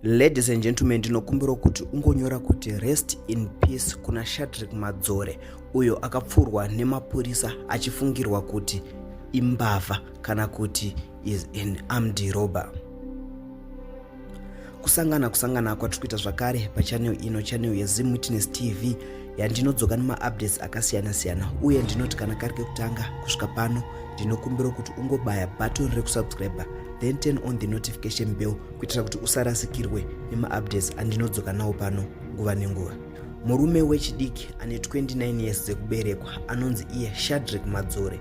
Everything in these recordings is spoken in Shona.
Ladies and gentlemen, ndinokumbira kuti ungonyora kuti rest in peace kuna Shadrick Madzore uyo akapfurwa nemapurisa achifungirwa kuti imbavha kana kuti is an armed robber. kusangana kusangana kwatiri kuita zvakare pachanel ino chanel yezim witness tv yandinodzoka nemaupdates akasiyana-siyana uye ndinoti kana kari kekutanga kusvika pano ndinokumbira kuti ungobaya button rekusubscriber then turn on the notification bell kuitira kuti usarasikirwe nemaupdates andinodzoka nawo pano nguva nenguva murume wechidiki ane 29 years dzekuberekwa anonzi iye shadrick madzore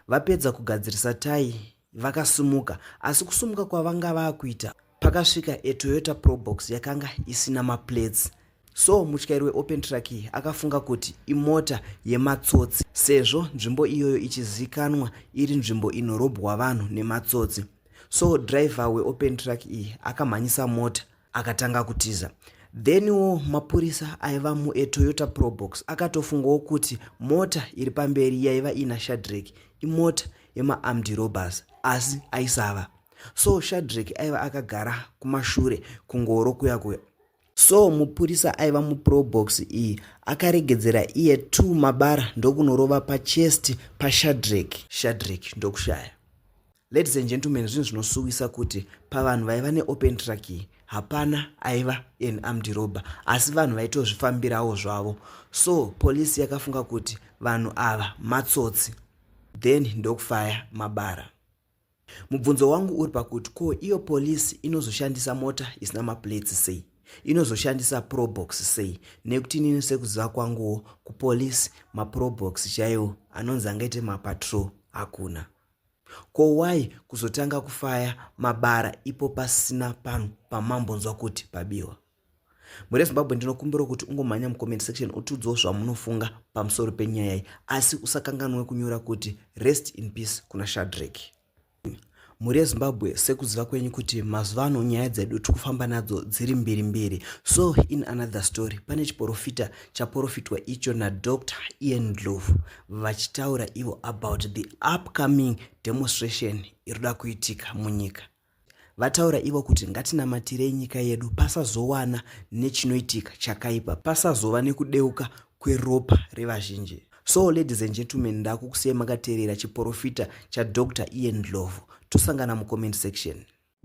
vapedza kugadzirisa tai vakasimuka asi kusumuka kwavanga vakuita pakasvika etoyota probox yakanga isina maplates so mutyairi weopen truck iyi akafunga kuti imota yematsotsi sezvo nzvimbo iyoyo ichizikanwa iri nzvimbo inorobwa vanhu nematsotsi so driver weopen truck iyi akamhanyisa mota akatanga kutiza theniwo mapurisa aiva muetoyota probox akatofungawo kuti mota iri pamberi yaiva ina shadrek imota yemaarmed robbers asi aisava so shadrek aiva akagara kumashure kungoro kuya kuya so mupurisa aiva muprobox iyi akaregedzera iye t mabara ndokunorova pachest pashadrek shadrek ndokushaya Ladies and gentlemen, zvinhu zvinosuwisa kuti pavanhu vaiva neopen track iyi hapana aiva an armed robber asi vanhu vaitozvifambirawo zvavo so polisi yakafunga kuti vanhu ava matsotsi then ndokufaya mabara mubvunzo wangu uri pakuti ko iyo polisi inozoshandisa mota isina maplates sei inozoshandisa probox sei nekuti inini sekuziva kwanguwo kupolisi maprobox chaiwo anonzi angaite mapatrol hakuna Ko why kuzotanga kufaya mabara ipo pasina panhu pamambonzwa kuti pabiwa? Mhuri yeZimbabwe ndinokumbira kuti ungomhanya mucomment section utiudzawo zvamunofunga pamusoro penyaya iyi asi usakanganwe kunyora kuti rest in peace kuna Shadrack. Mhuri yeZimbabwe sekuziva kwenyu kuti mazuva ano nyaya dzedu tiri kufamba nadzo dziri mbiri mbiri. So in another story pane chiporofita chaporofitwa icho naDr Ian Ndlovu vachitaura ivo about the upcoming demonstration irikuda kuitika munyika vataura ivo kuti ngatinamatirei nyika yedu pasazowana nechinoitika chakaipa pasazova nekudeuka kweropa revazhinji so ladies and gentlemen ndakukusiyai makateerera chiporofita chadr ian dlovo tosangana mucomment section